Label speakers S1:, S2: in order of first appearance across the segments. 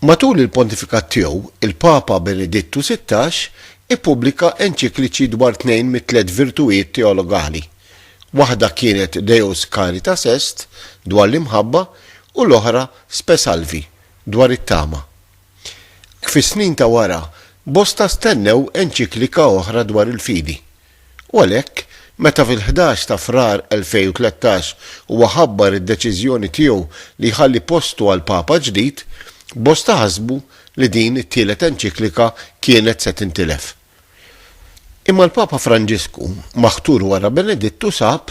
S1: Matul il-pontifikat tiegħu, il-Papa Benedittu Sittax ippubblika enċikliċi dwar tnejn mit-tliet virtujiet teologali, waħda kienet Deus Caritas Est, dwar l-imħabba, u l-oħra Spe Salvi, dwar it-tama. Fis-snin ta' wara, bosta stennew enċiklika oħra dwar il-fidi. u għalhekk, meta fil-ħdax ta' Frar 2013 huwa ħabbar id-deċiżjoni tiegħu li jħalli postu għal Papa ġdid, bosta ħasbu li din it-tielet enċiklika kienet se tintilef. Imma l-Papa Franġisku, maħtur wara Benedittu sab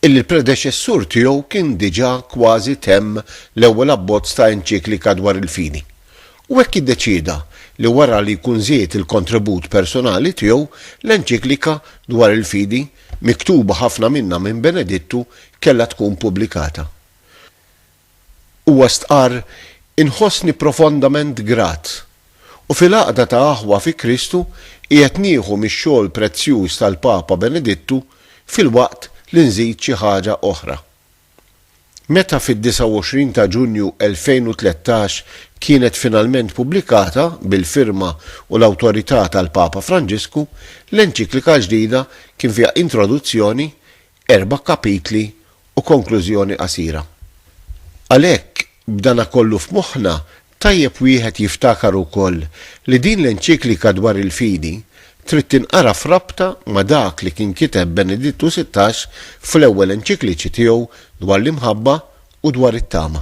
S1: illi l-predeċessur tiegħu kien diġà kważi temm l-ewwel abbozz ta' enċiklika dwar il-fidi, u hekk iddeċieda li wara li jkun żied il-kontribut personali tiegħu, l-enċiklika dwar il-fidi, miktuba ħafna minnha minn Benedittu, kellha tkun pubblikata. Huwa stqarr, Inħossni profondament grat, u fil-għaqda ta' aħwa fi Kristu qiegħed nieħu mix-xogħol prezzjuż tal-Papa Benedittu filwaqt li nżid xi ħaġa oħra. Meta fid-29 ta' Ġunju 2013 kienet finalment pubblikata bil-firma u l-awtorità tal-Papa Franġisku, l-enċiklika l-ġdida kien fiha introduzzjoni, erba' kapitli u konklużjoni qasira. Għalhekk, b'dana kollu f'moħħna, Tajjeb wieħed jiftakar ukoll li din l-enċiklika dwar il-fidi trid tinqara f'rabta ma' dak li kien kiteb Benedittu Sittax fl-ewwel enċikliċi tiegħu dwar l-imħabba u dwar it-tama.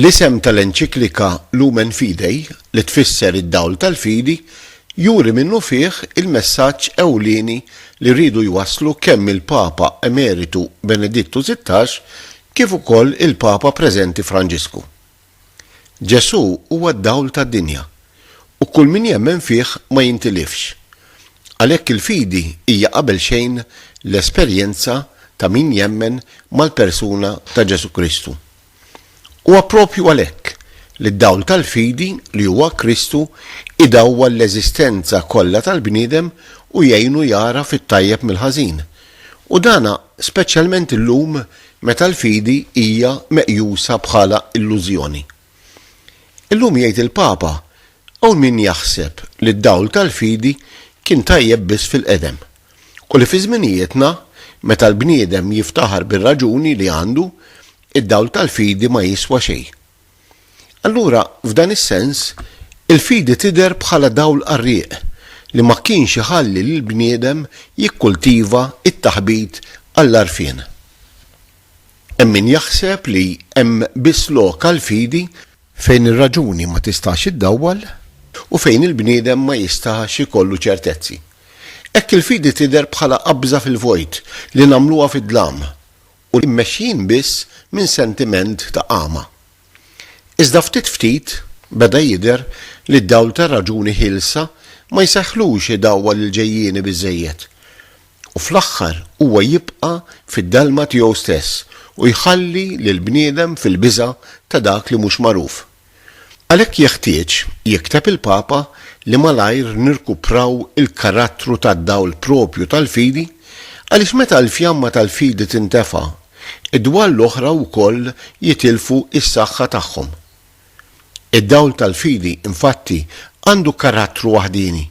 S1: L-isem tal-enċiklika Lumen Fidei, li tfisser id-dawl tal-fidi, juri minnufih il-messaġġ ewlieni li riedu jwasslu kemm il-Papa Emeritu Benedittu Sittax kif ukoll il-Papa preżenti Franġisku. Ġesù huwa d-dawl tad-dinja, u kull min jemmen fih ma jintilifx. Għalhekk il-fidi hija qabel xejn l-esperjenza ta' min jemmen mal-persuna ta' Ġesù Kristu. Huwa proprju għalhekk li d-dawl tal-fidi li huwa Kristu jdawwal l-eżistenza kollha tal-bniedem u jgħinu jagħraf it-tajjeb mill-ħażin, U dan speċjalment illum meta l-fidi hija meqjusa bħala illużjoni. Illum jgħid il-Papa, hawn min jaħseb li d-dawl tal-fidi kien tajjeb biss fil-qedem u li fi żminijietna meta l-bniedem jiftaħar bir-raġuni li għandu, id-dawl tal-fidi ma jiswa xejn. Allura, f'dan is-sens, il-fidi tidher bħala dawl qarrieq li ma kienx iħalli lill-bniedem jikkultiva t-taħbit għall-għarfien. Hemm min jaħseb li hemm biss lok għall-fidi fejn ir-raġuni ma tistax iddawwal u fejn il-bniedem ma jistax ikollu ċertezzi. Hekk il-fidi tidher bħala qabża fil-vojt li nagħmluha fid-dlam u li mmexjin biss minn sentiment ta' għama. Iżda ftit ftit beda jidher li d-dawl tar-raġuni ħielsa ma jsegħħlux idawwal il-ġejjieni biżżejjed, u fl-aħħar huwa jibqa' fid-dalma tiegħu stess u jħalli lill-bniedem fil-biża' ta' dak li mhux magħruf. Għalhekk jeħtieġ, jikteb il-Papa, li malajr nirkupraw il-karattru tad-dawl proprju tal-fidi, għaliex meta l-fjamma tal-fidi tintefa', id-dwal l-oħra wkoll jitilfu s-saħħa tagħhom. Id-dawl tal-fidi, infatti, għandu karattru waħdieni,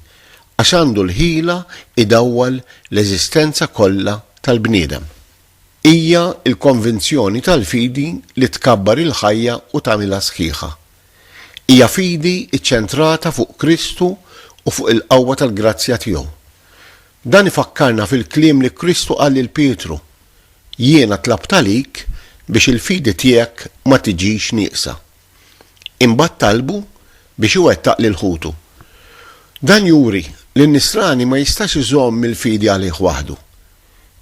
S1: għax għandu l-ħila jdawwal l-eżistenza kollha tal-bniedem. Hija l-konvinzjoni tal-fidi li tkabbar il-ħajja u tagħmilha sħiħa. Hija fidi ċċentrata fuq Kristu u fuq il-qawwa tal-grazzja tiegħu. Dan ifakkarna fil-kliem li Kristu qal lil Pietru, Jiena tlabt għalik biex il-fidi tiegħek ma tiġix nieqsa. Imbagħad talbu biex iwettaq lil ħutu. Dan juri li n-nisrani ma jistax iżomm il-fidi għalih waħdu.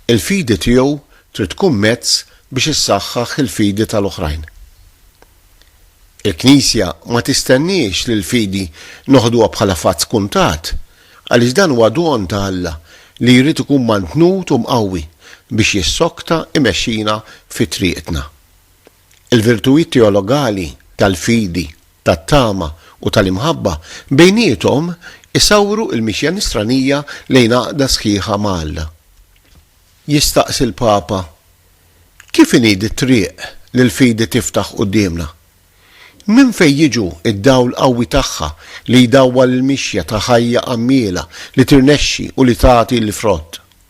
S1: Il-fidi tiegħu trid tkun mezz biex issaħħaħ il-fidi tal-oħrajn. Il-Knisja ma tistenniex li l-fidi noħduha bħala fatt skuntat, għaliex dan huwa don ta' Alla li jrid ikun mantnut u mqawwi biex jissokta imexxina fi triqtna. Il-virtujiet teologali tal-fidi, tat-tama u tal-imħabba bejniethom isawru l-mixja Nisranija lejn għaqda sħiħa ma' Alla. Jistaqsi l-Papa, Kif inhi dit-triq li l-fidi tiftaħ quddiemna? Minn fejn jiġu d-dawl qawwi tagħha li jdawwal il-mixja ta' ħajja għammiela li tirnexxi u li tagħti l-frott?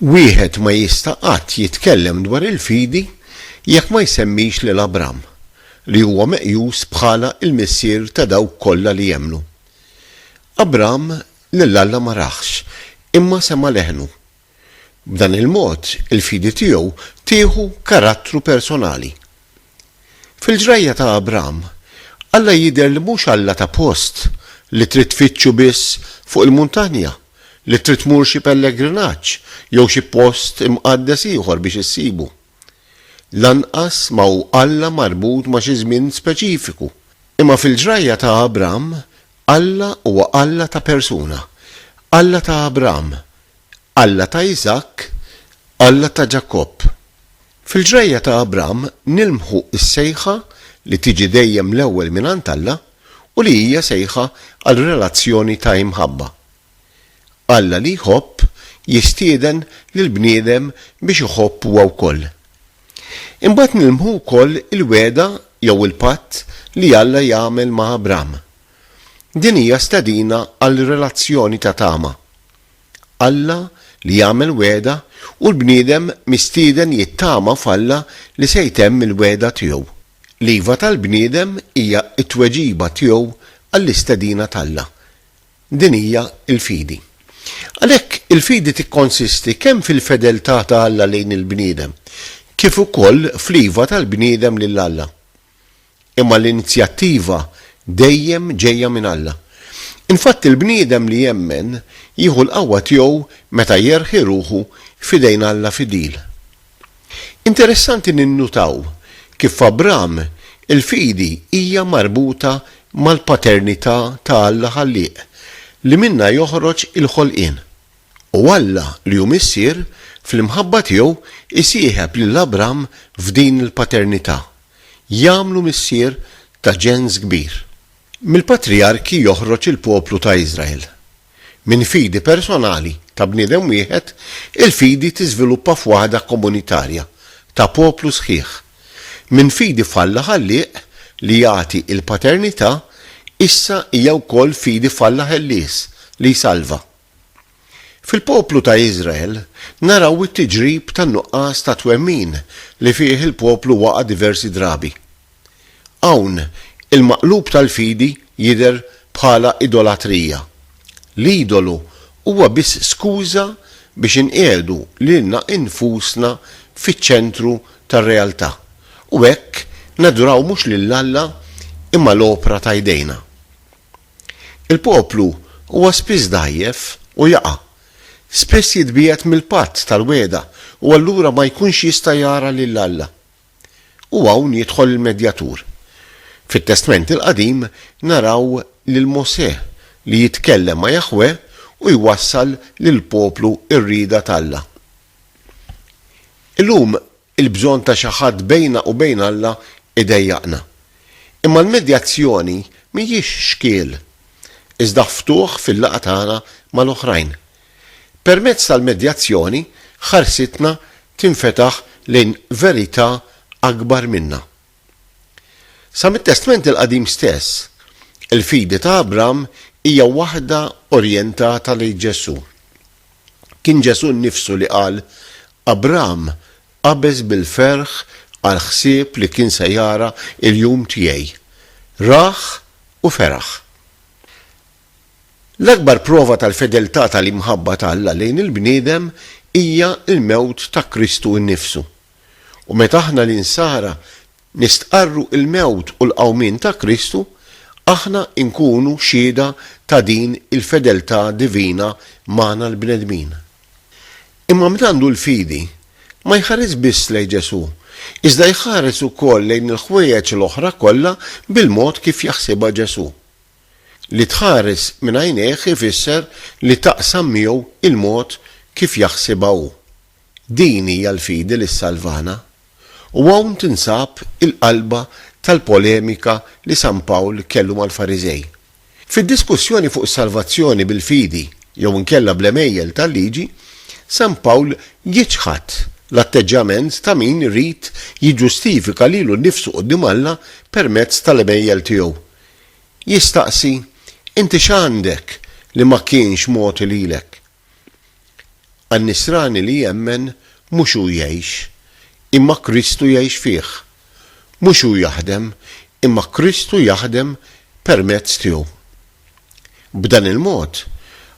S1: Wieħed ma jista' qatt jitkellem dwar il-fidi jekk ma jsemmix lil Abram, li huwa meqjus bħala l-missier ta' dawk kollha li jemmnu. Abram lil Alla ma rahx, imma sema' leħnu. B'dan il-mod, il-fidi tiegħu tieħu karattru personali. Fil-ġrajja ta' Abram, Alla jidher li mhux Alla ta' post li trid tfittxu biss fuq il-muntanja, li trid tmur xi pellegrinaġġ jew xi post imqaddes ieħor biex issibu. Lanqas ma hu Alla marbut ma' xi żmien speċifiku. Imma fil-ġrajja ta' Abram, Alla huwa Alla ta' persuna, Alla ta' Abram, Alla ta' Iżakk, Alla ta' Ġakobb. Fil-ġrajja ta' Abram nilmħu s-sejħa li tiġi dejjem l-ewwel mingħand Alla u li hija sejħa għal relazzjoni ta' imħabba. Alla li jħobb jistieden lill-bniedem biex iħobb huwa wkoll. Imbagħad nilmħu wkoll il-wegħda jew il-patt li Alla jagħmel ma' Abram. Din hija stedina għal relazzjoni ta' tama. Alla li jagħmel wegħda u l-bniedem mistieden jittama f'Alla li se jtemm il-wegħda tiegħu. L-iva tal-bniedem hija t-tweġiba tiegħu għall-istedina t'Alla. Din hija l-fidi. Għalhekk, il-fidi tikkonsisti kemm fil-fedeltà ta' Alla lejn il-bniedem, kif ukoll fl-iva tal-bniedem lil Alla. Imma l-inizjattiva dejjem ġejja minn Alla. Infatt il-bniedem li jemmen jieħu l-qawwa tiegħu meta jerħi ruħu f'idejn Alla fidil. Interessanti ninnutaw kif f'Abraham il-fidi hija marbuta mal-paternità ta' Alla Ħallieq li minnha joħroġ il-ħolqien. U Alla li hu Missier, fl-imħabba tiegħu jsieħeb lil Abram f'din il-paternità, jagħmlu missier ta' ġens kbir. Mill-patrijarki joħroġ il-poplu ta' Iżrael. Minn fidi personali ta' bniedem wieħed, il-fidi tiżviluppa f'waħda komunitarja, ta' poplu sħiħ. Minn fidi f'Alla Ħallieq li jagħti l-paternità, issa hija wkoll fidi f'Alla Ħellies li jsalva. Fil-poplu ta' Iżrael naraw it-tiġrib tan-nuqqas ta' twemmin li fih il-poplu waqa' diversi drabi. Hawn il-maqlub tal-fidi jidher bħala idolatrija. L-idolu huwa biss skuża biex inqiegħdu lilna nfusna fiċ-ċentru tar-realtà u hekk naduraw mhux lil Alla imma l-opra ta' jdejna. Il-poplu huwa spiss dgħajjef u jaqa'. Spiss jitbiegħed mill-patt tal-wegħda u allura ma jkunx jista' jara lil Alla. U hawn jidħol il-medjatur. Fit-Testment il-Qadim naraw lil Mosè li jitkellem ma' Jaħweh u jwassal lill-poplu r-rieda t'Alla. Illum Il-bżonn ta' xi ħadd bejna u bejn Alla jdejjaqna. Imma l-medjazzjoni mhijiex xkiel, iżda ftuħ fil-laqgħa tagħna mal-oħrajn. Permezz tal-medjazzjoni ħarsitna tinfetaħ lejn verità akbar minna. Sa mit-Testment il-Qadim stess, il-fidi ta' Abram hija waħda orjentata lejn Ġesù. Kien Ġesù nnifsu li qal, Abram qabeż bil-ferħ għall-ħsieb li kien se jara l-jum tiegħi. Rah u feraħ. L-akbar prova tal-fedeltà tal-imħabba ta' Alla lejn il-bniedem hija l-mewt ta' Kristu nnifsu. U meta aħna l-Insara nistqarru l-mewt u l-qawmien ta' Kristu, aħna nkunu xhieda ta' din il-fedeltà divina magħna l-bnedmin. Imma min għandu l-fidi ma jħares biss lejn Ġesù, iżda jħares ukoll lejn il-ħwejjeġ l-oħra kollha bil-mod kif jaħsibha Ġesù. Li tħares minn għajnejh ifisser li taqsam miegħu l-mod kif jaħsibha hu. Din hija l-fidi li ssalvana, u hawn tinsab il-qalba tal-polemika li San Pawl kellu mal-Fariżej. Fid-diskussjoni fuq is-salvazzjoni bil-fidi jew inkella bl-għemejjel tal-Liġi, San Pawl jiċħad l-atteġġjament ta' min irid jiġġustifika lilu nnifsu quddiem Alla permezz tal-għemejjel tiegħu. Jistaqsi, Inti x'għandek li ma kienx mogħti lilek? Għan-Nisrani li jemmen, mhux hu jgħix, imma Kristu jgħix fih. Mhux hu jaħdem, imma Kristu jaħdem permezz tiegħu. B'dan il-mod,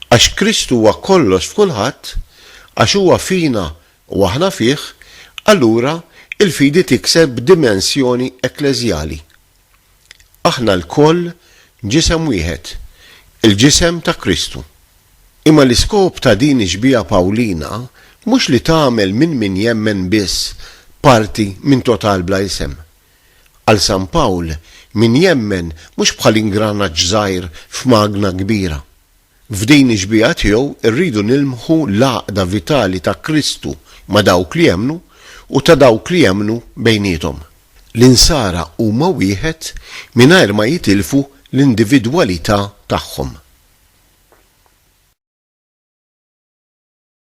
S1: għax Kristu huwa kollox f'kulħadd, għax huwa fina u aħna fih, allura l-fidi tikseb dimensjoni ekkleżjali. Aħna lkoll ġisem wieħed, il-ġisem ta' Kristu. Imma l-iskop ta' din ix-xbieha Pawlina mhux li tagħmel minn min jemmen biss parti minn total bla isem. Għal San Pawl, min jemmen mhux bħal ingranaġġ żgħir f'magna kbira. F'din ix-xbieha tiegħu rridu nilmħu l-għaqda vitali ta' Kristu ma' dawk li jemmnu u ta' dawk li jemmnu bejniethom. L-Insara huma wieħed mingħajr ma jitilfu l-individwalità tagħhom.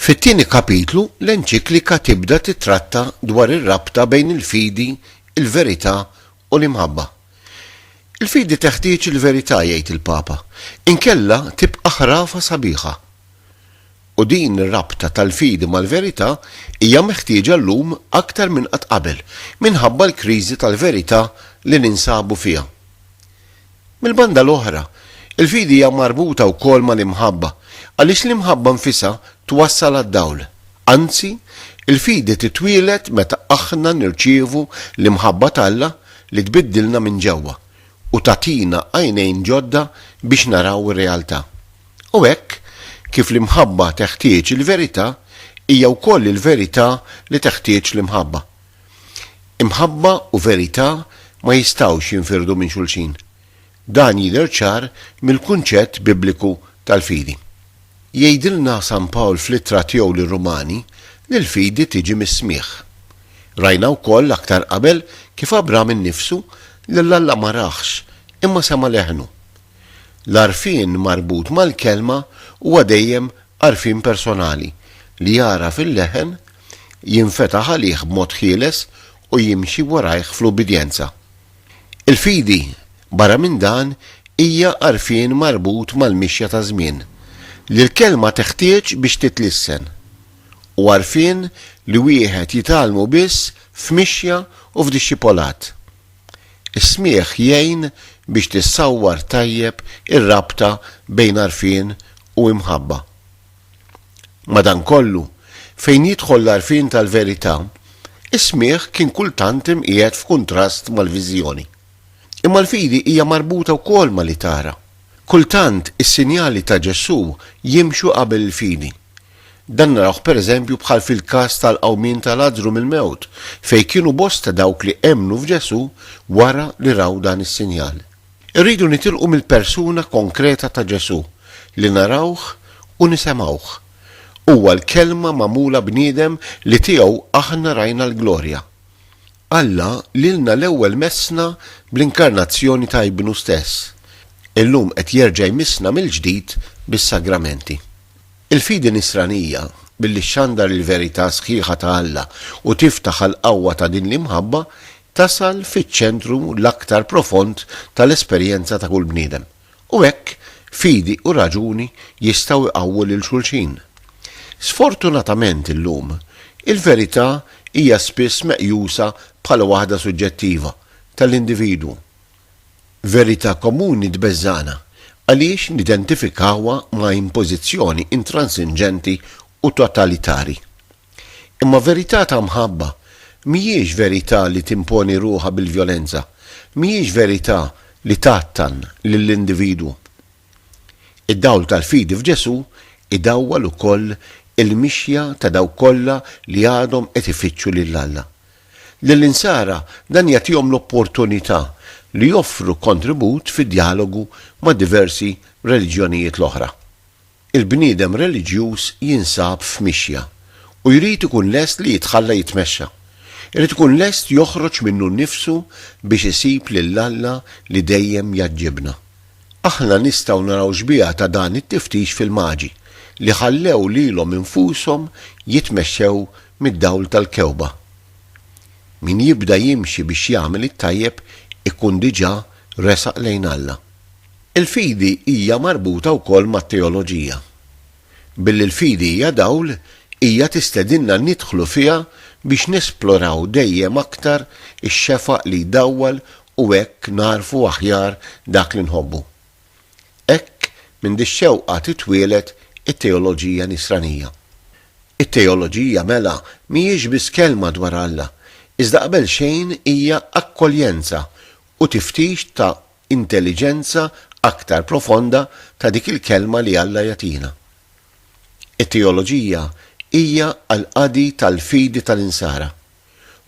S1: Fit-tieni kapitlu, l-enċiklika tibda tittratta dwar ir-rabta bejn il-fidi, il-verità, u l-imħabba. Il-fidi teħtieġ il-verità, jgħid il-Papa, inkella tibqa' ħrafa sabiħa. U din ir-rabta tal-fidi mal-verità hija meħtieġa llum aktar minn qatt qabel minħabba l-kriżi tal-verità li ninsabu fiha. Mill-banda l-oħra, il-fidi hija marbuta wkoll mal-imħabba, għaliex l-imħabba nfisha twassal għad-dawl. Anzi, il-fidi titwieled meta aħna nirċievu l-imħabba t'Alla li tbiddilna minn ġewwa u tagħtina għajnejn ġodda biex naraw ir-realtà. U hekk kif l-imħabba teħtieġ il-verità, hija wkoll il-verità li teħtieġ l-imħabba. Imħabba u verità ma jistgħux jinfirdu minn xulxin. Dan jidher ċar mill-kunċett Bibliku tal-fidi. Jgħidilna San Pawl fl-Ittra tiegħu lir-Rumani li l-fidi tiġi mis-smigħ. Rajna wkoll aktar qabel kif Abram innifsu lil Alla ma rahx imma sema' leħnu. L-għarfien marbut mal-Kelma huwa dejjem għarfien personali li jagħraf il-leħen jinfetaħ għalih b'mod ħieles u jimxi warajh fl-ubbidjenza. Il-fidi, barra minn dan, hija għarfien marbut mal-mixja taż-żmien, li l-Kelma teħtieġ biex titlissen, u għarfien li wieħed jitgħallmu biss f'mixja u f'dixxipolat. Is-smigħ jgħin biex tissawwar tajjeb ir-rabta bejn għarfien u imħabba. Madankollu, fejn jidħol l-għarfien tal-verità, is-smigħ kien kultant imqiegħed f'kuntrast mal-viżjoni. Imma l-fidi hija marbuta wkoll ma' li tara. Kultant is-sinjali ta' Ġesù jimxu qabel il-fidi. Dan narawh pereżempju bħal fil-każ tal-qawmien ta' Lazzru mill-mewt, fejn kienu bosta dawk li emmnu f'Ġesù wara li raw dan is-sinjal. Irridu nitilqu mill-persuna konkreta ta' Ġesù li narawh u nisemgħuh. Huwa l-Kelma magħmula bniedem li tiegħu aħna rajna l-glorja. Alla lilna l-ewwel messna bl-inkarnazzjoni ta' Ibnu stess. Illum qed jerġa' jmissna mill-ġdid bis-Sagramenti. Il-fidi Nisranija, billi xxandar il-verità sħiħa ta' Alla u tiftaħ għall-qawwa ta' din l-imħabba, tasal fiċ-ċentru l-aktar profond tal-esperjenza ta' kull bniedem. U hekk, fidi u raġuni jistgħu jqawwu lil xulxin. Sfortunatament illum, il-verità hija spiss meqjusa bħala waħda suġġettiva, tal-individwu, verità komuni tbeżżagħna għaliex nidentifikawha ma' impożizzjoni intransinġenti u totalitari. Imma verità ta' mħabba mhijiex verità li timponi ruħha bil-vjolenza, mhijiex verità li tgħattan lill-individwu. Id-dawl tal-fidi f'Ġesù idawwal ukoll il-mixja ta' dawk kollha li għadhom qed ifittxu lil Alla. Lill-Insara dan jagħtihom l-opportunità li joffru kontribut fid-djalogu ma' diversi reliġjonijiet l-oħra. Il-bniedem reliġjuż jinsab f'mixja u jrid ikun lest li jitħalla jitmexxa. Irid ikun lest joħroġ minnu nnifsu biex isib lil Alla li dejjem jgħaġġibna. Aħna nistgħu naraw xbieha ta' dan it-tiftix fil-Maġi, li ħallew lilhom infushom jitmexxew mid-dawl tal-kewba. Min jibda jimxi biex jagħmel it-tajjeb ikun diġà resaq lejn Alla. Il-fidi hija marbuta wkoll mat-teoloġija. Billi l-fidi hija dawl, hija tistedinna nidħlu fiha biex nesploraw dejjem aktar ix-xefaq li jdawwal u hekk nagħrfu aħjar dak li nħobbu. Hekk minn dix-xewqa titwieled it-teoloġija Nisranija. It-teoloġija mela mhijiex biss kelma dwar Alla, iżda qabel xejn hija akkoljenza u tiftix ta' intelliġenza aktar profonda ta' dik il-kelma li Alla jagħtina. It-teoloġija hija għall-qadi tal-fidi tal-Insara.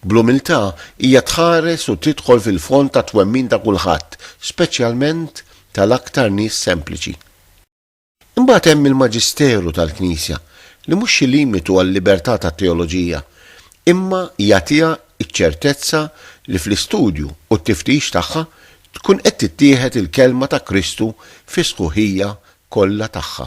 S1: Bl-umiltà, hija tħares u tidħol fil-fond tat-twemmin ta' kulħadd, speċjalment tal-aktar nies sempliċi. Imbagħad hemm il-maġisteru tal-Knisja, li mhux xi limitu għal-libertà tat-teoloġija, imma jagħtiha ċ-ċertezza li fl-istudju u t-tiftix tagħha tkun qed tittieħed il-Kelma ta' Kristu fis-sħuħija kollha tagħha.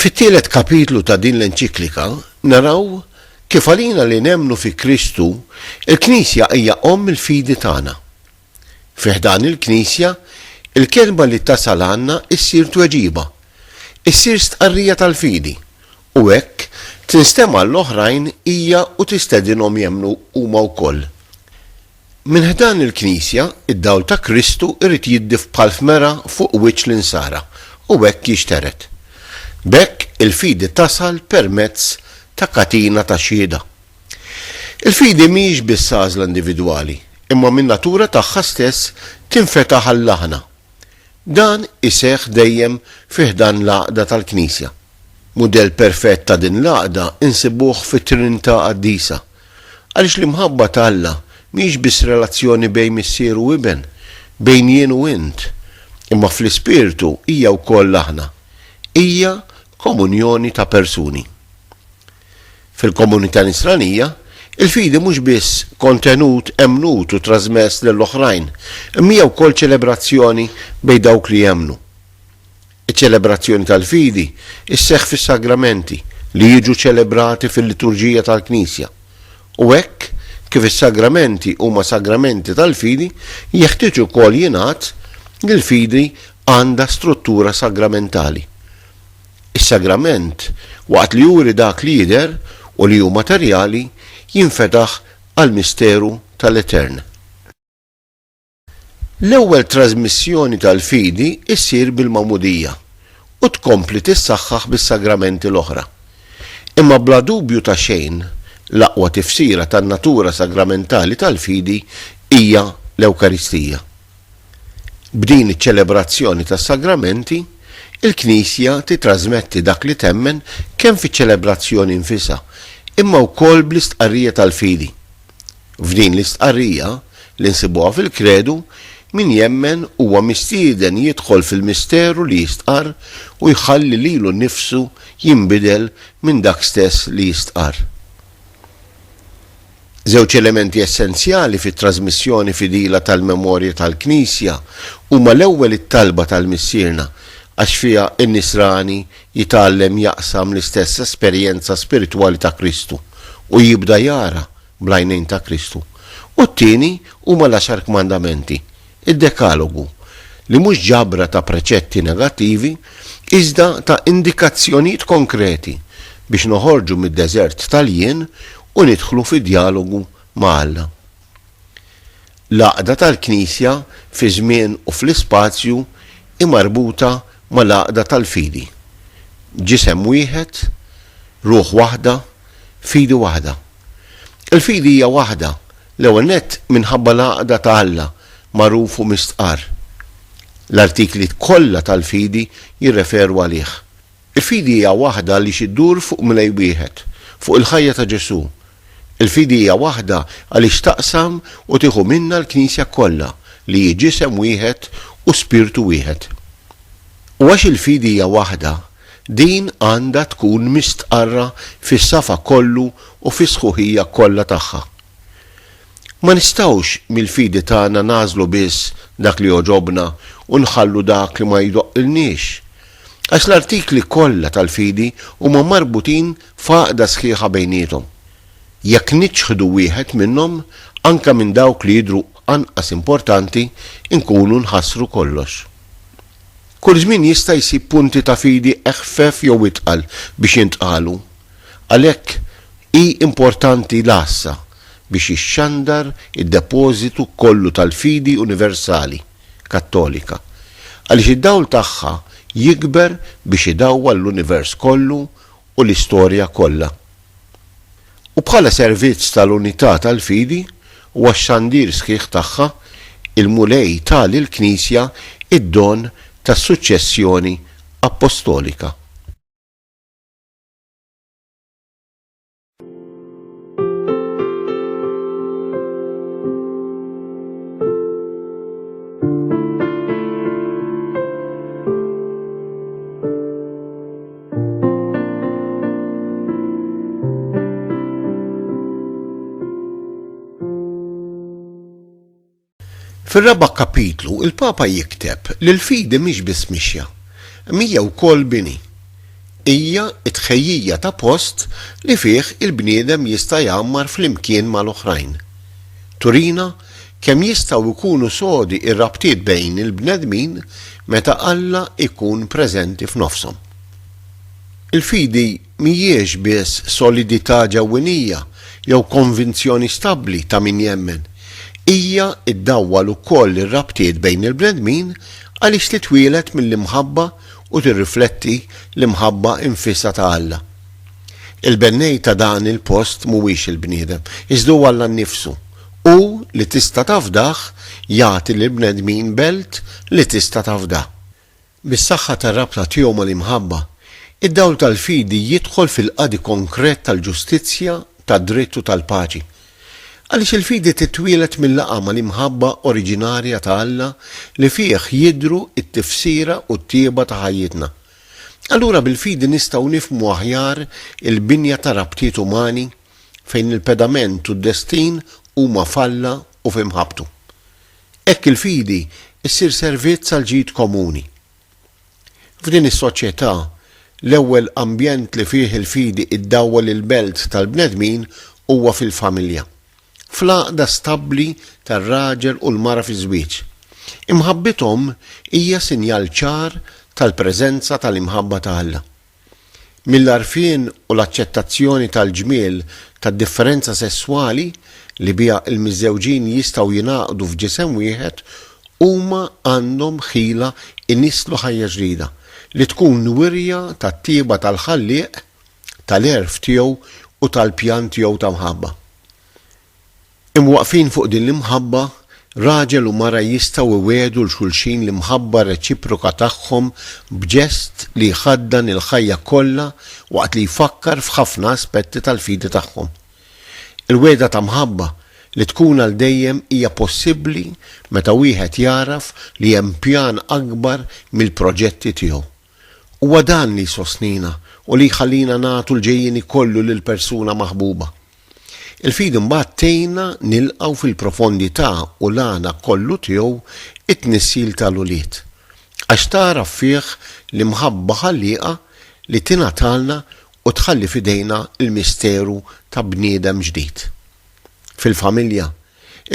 S1: Fit-tielet kapitlu ta' din l-enċiklika naraw kif għalina li nemmnu fi Kristu, il-Knisja hija omm il-fidi tagħna. Fi ħdan il-Knisja, il-kelma li tasal għandna ssir tweġiba, issir stqarrija tal-fidi, u hekk tinstema' għall-oħrajn hija u tistedinhom jemmnu huma wkoll. Minn ħdan il-Knisja, id-dawl ta' Kristu jrid jiddif bħal f'mera fuq wiċċ l-insara u hekk jixtered. B'hekk il-fidi tasal permezz ta' katina ta' xhieda. Il-fidi mhijiex biss għażla individwali, imma min-natura tagħha stess tinfetaħ għal aħna. Dan iseħħ dejjem fi ħdan l-għaqda tal-Knisja. Mudell perfett ta' din l-għaqda nsibuh fit-Trinità Qaddisa, Għaliex l-imħabba ta' Alla mhijiex biss relazzjoni bejn Missier u Iben, bejn jien u int, imma fl-ispirtu hija wkoll aħna. Hija komunjoni ta' persuni. Fil-komunità Nisranija, il-fidi mhux biss kontenut emmnut u trażmess lil oħrajn, imma hija wkoll ċelebrazzjoni bejn dawk li jemmnu. Iċ-ċelebrazzjoni tal-fidi sseħħ fis-sagramenti li jiġu ċelebrati fil-liturġija tal-Knisja, u hekk kif is-sagramenti huma sagramenti tal-fidi, jeħtieġ ukoll jingħad li l-fidi għandha struttura sagramentali. Is-sagrament, waqt li juri dak li jidher u li hu materjali, jinfetaħ għall-misteru tal-Etern. L-ewwel trażmissjoni tal-fidi ssir bil-magħmudija u tkompli tissaħħaħ bis-sagramenti l-oħra. Imma bla dubju ta' xejn, l-aqwa tifsira tan-natura sagramentali tal-fidi hija l-Ewkaristija. B'din iċ-ċelebrazzjoni tas-sagramenti, il-Knisja titrażmetti dak li temmen kemm fiċ-ċelebrazzjoni nfisha, imma wkoll bl-istqarrija tal-fidi. F'din l-istqarrija, li nsibuha fil-Kredu, min jemmen huwa mistieden jidħol fil-misteru li jistqarr u jħalli lilu nnifsu jinbidel minn dak stess li jistqarr. Żewġ elementi essenzjali fit-trażmissjoni fidila tal-memorja tal-Knisja huma l-ewwel it-talba tal-Missierna, għax fiha n-nisrani jitgħallem jaqsam l-istess esperjenza spiritwali ta' Kristu u jibda jara, bl-għajnejn ta' Kristu, u t-tieni huma l-Għaxar Kmandamenti, id-Dekalogu, li mhux ġabra ta' preċetti negattivi, iżda ta' indikazzjonijiet konkreti biex noħorġu mid-deżert tal-jien u nidħlu fi djalogu ma' Alla. L-għaqda tal-Knisja fiż-żmien u fl-ispazju hi marbuta mal-għaqda tal-fidi, ġisem wieħed, ruħ waħda, fidi waħda. Il-fidi hija waħda, l-ewwel nett minħabba l-għaqda ta' Alla, magħruf u mistqarr. L-artikli kollha tal-fidi jirreferu għalih. Il-fidi hija waħda għaliex iddur fuq Mlej wieħed, fuq il-ħajja ta' Ġesù. Il-fidi hija waħda għaliex taqsam u tieħu minnha l-Knisja kollha, li hi ġisem wieħed u spirtu wieħed. U għax il-fidi hija waħda, Din għandha tkun mistqarra fis-safa kollu u fis-sħuħija kollha tagħha. Ma nistgħux mill-fidi tagħna nagħżlu biss dak li jogħġobna u nħallu dak li ma jdoqqilniex. Għax l-artikli kollha tal-fidi huma marbutin f'għaqda sħiħa bejniethom. Jekk niċħdu wieħed minnhom, anke minn dawk li jidhru anqas importanti, inkunu nħassru kollox. Kull żmien jista' jsib punti ta' fidi eħfef jew itqal biex jintqalu. Għalhekk, hi importanti l-għassa biex jixxandar id-depożitu kollu tal-fidi universali Kattolika, għaliex id-dawl tagħha jikber biex idawwal l-univers kollu u l-istorja kollha. U bħala servizz tal-unità tal-fidi u għax-xandir sħiħ tagħha, il-Mulej ta lill-Knisja d-don tas-suċċessjoni appostolika. Fir-raba' kapitlu, il-Papa jikteb li l-fidi mhix biss mixja, imma hija wkoll bini. Hija t-tħejjija ta' post li fih il-bniedem jista' jgħammar flimkien mal-oħrajn. Turina kemm jistgħu jkunu sodi r-rabtiet bejn il-bnedmin meta Alla jkun preżenti f'nofshom. Il-fidi mhijiex biss solidità ġewwinija jew konvinzjoni stabbli ta' min jemmen, hija ddawwal ukoll ir-rabtiet bejn il-bnedmin għaliex titwieled mill-imħabba u tirrifletti l-imħabba nfisha ta' Alla. Il-bennej ta' dan il-post mhuwiex il-bniedem, iżda hu Alla nnifsu, Hu li tista' tafdah jagħti lill-bnedmin belt li tista' tafda. Bis-saħħa tar-rabta tiegħu mal-imħabba, id-dawl tal-fidi jidħol fil-qadi konkret tal-ġustizzja, tad-dritt u tal-paċi. Għaliex il-fidi titwieled mil-laqgħa mal-imħabba oriġinarja ta' Alla li fih jidhru t-tifsira u t-tjieba ta' ħajjitna. Allura bil-fidi nistgħu nifhmu aħjar il-binja ta' rabtiet umani. fejn il-pedament u d-destin huma falla u f'imħabbtu. Hekk il-fidi ssir servizz għall-ġid komuni. F'din is-soċjetà, l-ewwel ambjent li fih il-fidi iddawwal il-belt tal-bnedmin huwa fil-familja, fl-għaqda stabbli tar-raġel u l-mara fiż-żwieġ. Imħabbithom hija sinjal ċar tal-preżenza tal-imħabba ta' Alla. Mill-għarfien u l-aċċettazzjoni tal-ġmiel tad-differenza sesswali li biha l-miżżewġin jistgħu jingħaqdu f'ġisem wieħed, huma għandhom ħila jnisslu ħajja ġdida, li tkun wirja tat-tjieba tal-Ħallieq, tal-għerf tiegħu u tal-pjan tiegħu ta' mħabba. Imwaqqfin fuq din l-imħabba, raġel u mara jistgħu iwiegħdu 'l xulxin l-imħabba reċiproka tagħhom b'ġest li jħaddan il-ħajja kollha waqt li jfakkar f'ħafna aspetti tal-fidi tagħhom. Il-wegħda ta' mħabba li tkun għal dejjem hija possibbli meta wieħed jagħraf li hemm pjan akbar mill-proġetti tiegħu. Huwa dan li jsostnina u li jħallina nagħtu l-ġejjieni kollu lil persuna maħbuba. Il-fidi mbagħad tgħinna nilqgħu fil-profondità u l-għana kollu tiegħu t-tnissil ta' l-ulied. Għax tagħraf fih l-imħabba ħallieqa li tingħatalna u tħalli f'idejna l-misteru ta' bniedem ġdid. Fil-familja,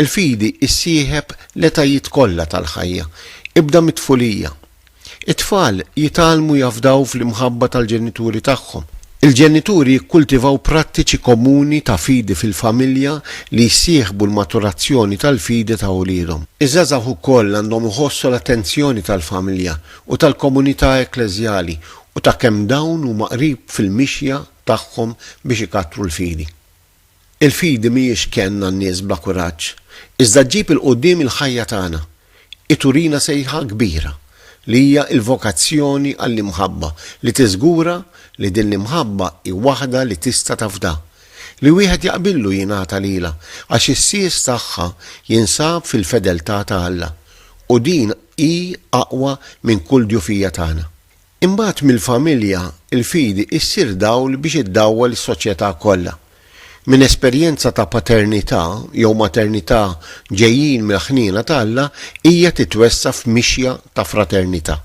S1: il-fidi ssieħeb l-etajiet kollha tal-ħajja, ibda mit-tfulija. It-tfal jitgħallmu jafdaw fl-imħabba tal-ġenituri tagħhom. Il-ġenituri jikkultivaw prattiċi komuni ta' fidi fil-familja li jsieħbu l-maturazzjoni tal-fidi ta' uliedhom. Iż-żgħażagħ ukoll għandhom iħossu l-attenzjoni tal-familja u tal-komunità ekkleżjali u ta' kemm dawn huma qrib fil-mixja tagħhom biex ikattru l-fidi. Il-fidi mhijiex kenn għan-nies bla kuraġġ, iżda ġġib 'il quddiem il-ħajja tagħna. Hi turina sejħa kbira, li hija l-vokazzjoni għall-imħabba, li tiżgura li din l-imħabba hi waħda li tista' tafda, li wieħed jaqbillu jingħata lilha, għax is-sies tagħha jinsab fil-fedeltà ta' Alla, u din hi aqwa minn kull djufija tagħna. Imbagħad mill-familja, il-fidi issir dawl biex iddawwal is-soċjetà kollha. Minn esperjenza ta' paternità jew maternità ġejjin mill-ħniena ta' Alla hija titwessa' f'mixja ta' fraternità.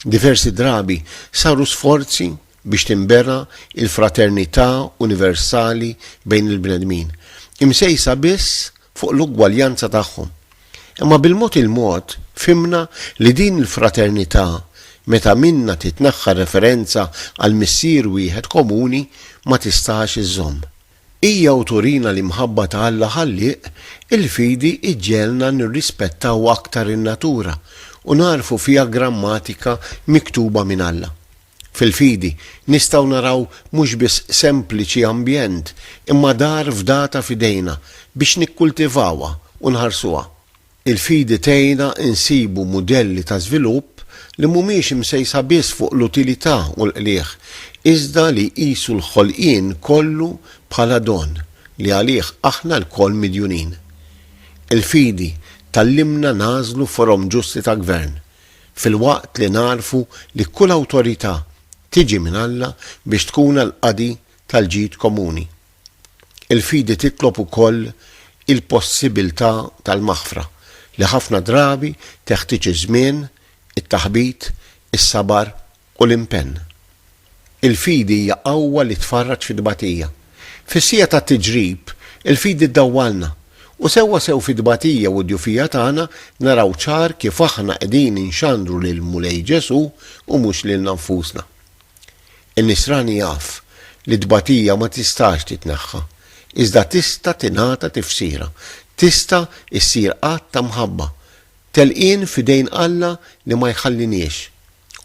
S1: Diversi drabi saru sforzi biex tinbena l-fraternità universali bejn il-bnedmin, imsejsa biss fuq l-ugwaljanza tagħhom. Imma bil-mod il-mod fhimna li din il-fraternità, meta minnha titneħħa r-referenza għal Missier wieħed komuni, ma tistax iżżomm. Hija u turina l-imħabba ta' Alla Ħallieq, il-fidi ġġegħelna nirrispettaw aktar in-natura u nagħrfu fiha grammatika miktuba minn Alla. Fil-fidi, nistgħu naraw mhux biss sempliċi ambjent, imma dar fdata f'idejna biex nikkultivawha u nħarsuha. Il-fidi tgħinna nsibu mudelli ta' żvilupp li mhumiex imsejsa biss fuq l-utilità u l-qligħ, iżda li jqisu l-ħolqien kollu bħala don li għalih aħna lkoll midjunin. Il-fidi tgħallimna nagħżlu forom ġusti ta' gvern, filwaqt li nagħrfu li kull awtorità tiġi minn Alla biex tkun għall-qadi tal-ġid komuni. Il-fidi titlob ukoll il-possibiltà tal-maħfra, li ħafna drabi teħtieġ iż-żmien, it-taħbit, is-sabar u l-impenn. Il-fidi hija qawwa li tfarraġ fit-tbatija. Fis-siegħa tat-tiġrib, il-fidi ddawwalna, u sewwasew fit-tbatija u d-djufija tagħna naraw ċar kif aħna qegħdin inxandru lill-Mulej Ġesù u mhux lilna nfusna. In-nisrani jaf li t-tbatija ma tistax titneħħa, iżda tista' tingħata tifsira, tista' ssir att ta' mħabba, telqien f'idejn Alla li ma jħalliniex.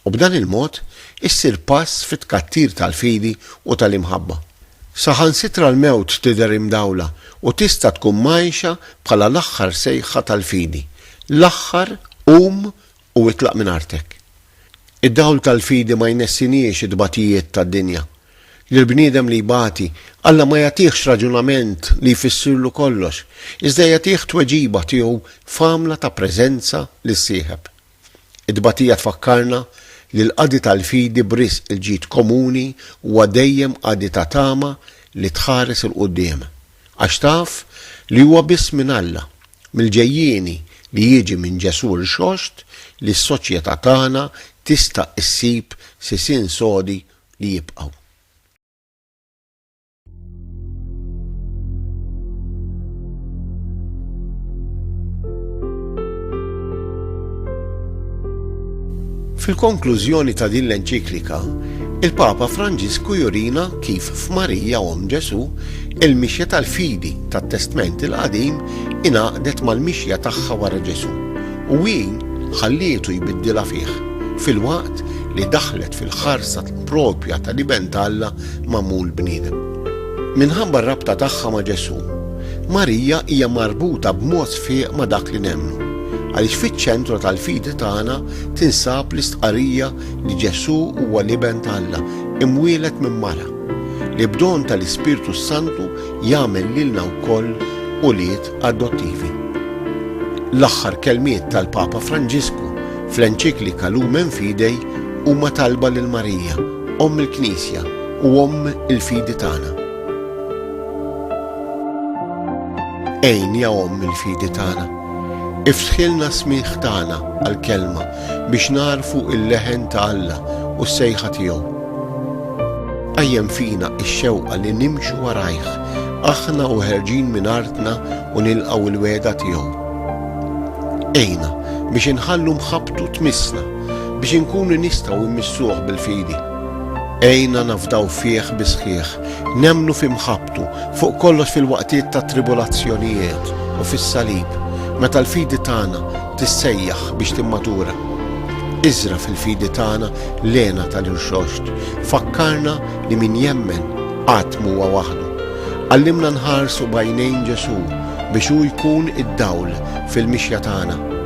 S1: u b'dan il-mod issir pass fit-tkattir tal-fidi u tal-imħabba. Saħansitra l-mewt tidher imdawla u tista' tkun mgħajxa bħala l-aħħar sejħa tal-fidi, l-aħħar qum u itlaq minn artek. Id-dawl tal-fidi ma jnessiniex it-tbatijiet tad-dinja. Lill-bniedem li jbati, Alla ma jagħtihx raġunament li jfissirlu kollox, iżda jagħtih tweġiba tiegħu f'għamla ta' preżenza lis-sieħeb. It-tbatija tfakkarna li l-qadi tal-fidi b'risq il-ġid komuni huwa dejjem qadi ta' tama li tħares 'il quddiem, għax taf li huwa biss minn Alla, mill-ġejjieni li jiġi minn Ġesù rxoxt li s-soċjetà tagħna tista' issib sisien sodi li jibqgħu. Fil-konklużjoni ta' din l-enċiklika, il-Papa Franġisku jurina kif f'Marija Omm Ġesù il-mixja tal-fidi tat-Testment il-Qadim ingħaqdet mal-mixja tagħha wara Ġesù u hi ħallietu jbiddilha fih, filwaqt li daħlet fil-ħarsa proprja tal-Iben t'Alla magħmul bniedem. Minħabba r-rabta tagħha ma' Ġesù, Marija hija marbuta b'mod sfieq ma' dak li nemmnu, għaliex fiċ-ċentru tal-fidi tagħna tinsab l-istqarrija li Ġesù huwa l-Iben ta' Alla imwieled minn mara, li b'don tal-Ispirtu s-Santu jagħmel lilna wkoll ulied adottivi. L-aħħar kelmiet tal-Papa Franġisku fl-enċiklika Lumen Fidei huma talba lil Marija, Omm il-Knisja u Omm il-fidi tagħna. Għin ja Omm il-fidi tagħna. Iftħilna smigħ tagħna għall-kelma biex nagħrfu il-leħen ta' Alla u s-sejħa tiegħu. Qajjem fina x-xewqa li nimxu warajh, aħna u ħerġin minn artna u nilqgħu l-wegħda tiegħu. Għina biex inħallu mħabbtu tmissna biex inkunu nistgħu immissuh bil-fidi. Għinna nafdaw fih bis-sħiħ, nemmnu fi mħabbtu, fuq kollox fil-waqtiet tat-tribulazzjonijiet u fis-salib, meta l-fidi tagħna tissejjaħ biex timmatura. Iżra' fil-fidi tagħna l-hena tal-irxoxt, fakkarna li min jemmen qatt mhuwa waħdu. Għallimna nħarsu b'għajnejn Ġesù biex hu jkun id-dawl fil-mixja tagħna.